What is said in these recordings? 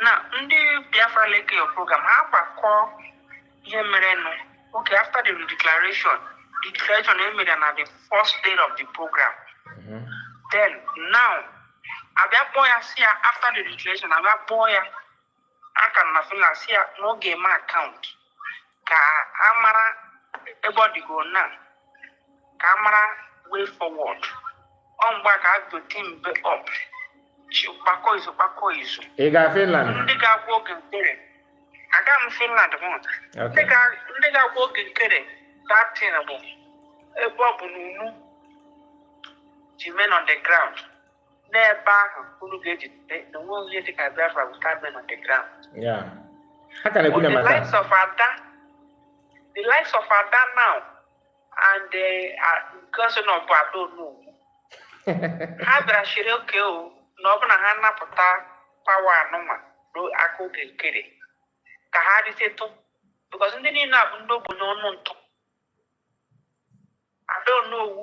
na ndị biafra leke your program ha gbakọ ihe merenụ okay after the declaration the declaration emere na the first day of the program mm-hmm. then now abịa kpọọ ya sị ya after the declaration abịa kpọọ ya aka na finland sị ya na ọ ga-eme account ka a mara ebe ọ dịgo na ka a mara way forward ọ mgbe a ka a bido teambe up chi kpakọ izu kpakọ izu ị ga finland ndị ga-agwa oge nkere aga m finland mụta ndị okay ga- ndị ga-agwa oge nkere that thing bụ ebe ọ bụ na unu ji men on the ground n'ebe ahụ unu ga-ejide na onwe onye dị ka Biafra without men on the ground. Yeah. Ha ka na-ekwu na the matter. likes of Ada, the likes of Ada now and the uh, cousin of Ada Onowu, ha bịara sịrị okay o na ọ bụ na ha napụta power anụnwa ruo aka oge nkere ka ha ritetụ because ndị niile a bụ ndị ogbenye ọnụ ntụ Ada Onowu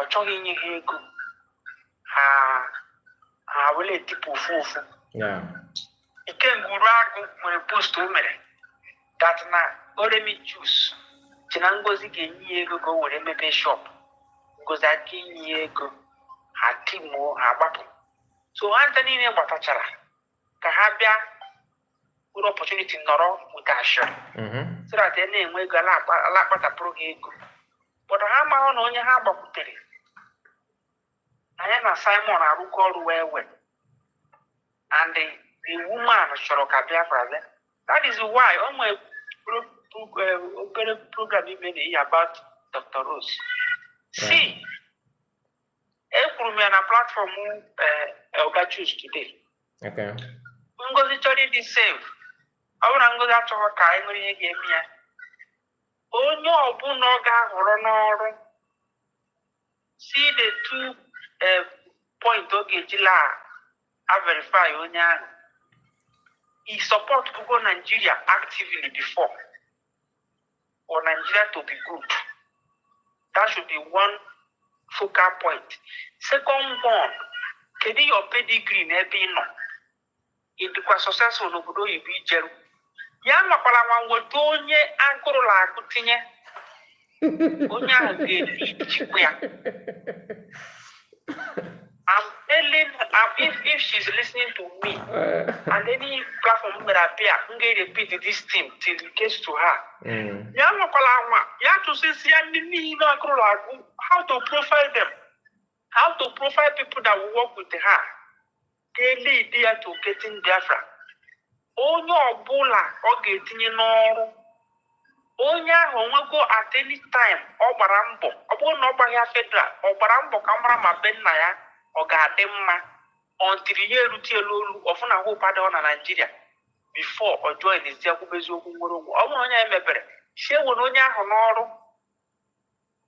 ọ chọghị inye ha ego ha ha were etipụ ofu ofu Yeah. ikenga uruagụ nwere post o mere that na oremi just chee na ngozi ga-enye ya ego ka o were mepee shop ngozi aka inye ya ego ha timuo ha gbapụ so ha ncha niile gbatachara ka ha bịa nwere opportunity nọrọ wee cash out mhm. so that ha na-enwe ego ala akpatapụrụ ha ego but ha amaghị na onye ha gbakwutere na ya na simon arụkọ ọrụ wee wee and the, the woman chọrọ ka biafra bịa that is why o nwee eh, obere program ime na ihe about dr rose see ekwuru m ya na platform eh, eh, oga chuks today ngozi chọrọ ịdị safe ọ bụrụ na ngozi achọghị ka anyị nwere ihe ga-eme ya onye ọbụla ọ ga-ahọrọ n'ọrụ see the two eh, point ọ ga-eji la-averify onye ahụ ị supportugokwa Nigeria actively before for Nigeria to be good. That should be one focal point. Second one, kedu your pedigree n'ebe ị nọ? Ị dịkwa successful n'obodo oyibo i jeru. Ya anwakwara anwa wota onye agụrụ la-agụ tinye. Onye ahụ ga-eji ya. I'm telling um, if, if she's listening to me uh, and any platform mere appear, m ga-repeat this thing till it gets to her. Mm. Ya nwakwala anwa, ya tụsịsị ya ndị niile agụrụ na-agụ how to profile them, how to profile people that will work with her. They lead ya to getting Biafra. Onye ọbụla ọ ga-etinye n'ọrụ onye ahụ o nwego at any time ọ gbara mbọ ọ bụrụ na ọ gbaghị ya federal ọ gbara mbọ ka mara ma be nna ya ọ ga-adị mma until ya erute elu elu ọ fụ na hope adịghị na Nigeria before ọ joinzie kwube eziokwu nwere onwe ọ bụrụ onye ya emebere sị ewena onye ahụ n'ọrụ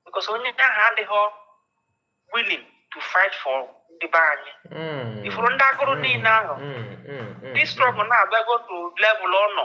because onye ahụ adịghị willing to fight for ndị be anyị ị fụrụ ndị agụrụ niile ahụ this struggle na-abịago to level ọ nọ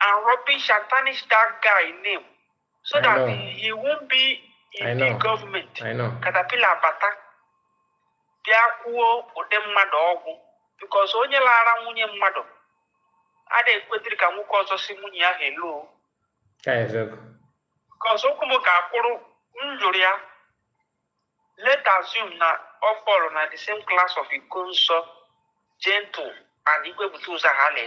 and rubbish and tarnish that guy name so I that know. he won't be in I the know. government. I know. Caterpillar bata bịa kwuo ụdị mmadụ ọ wụ because onye lara nwunye mmadụ ada ekwetiri ka nwoke ọzọ sị nwunye ya hello Ka eziokwu. because okwu m ka akwụrụ m jụrụ ya let assume na ọ follow na the same class of Ikonso Gentle and Igwe Butụzọ ha na-eme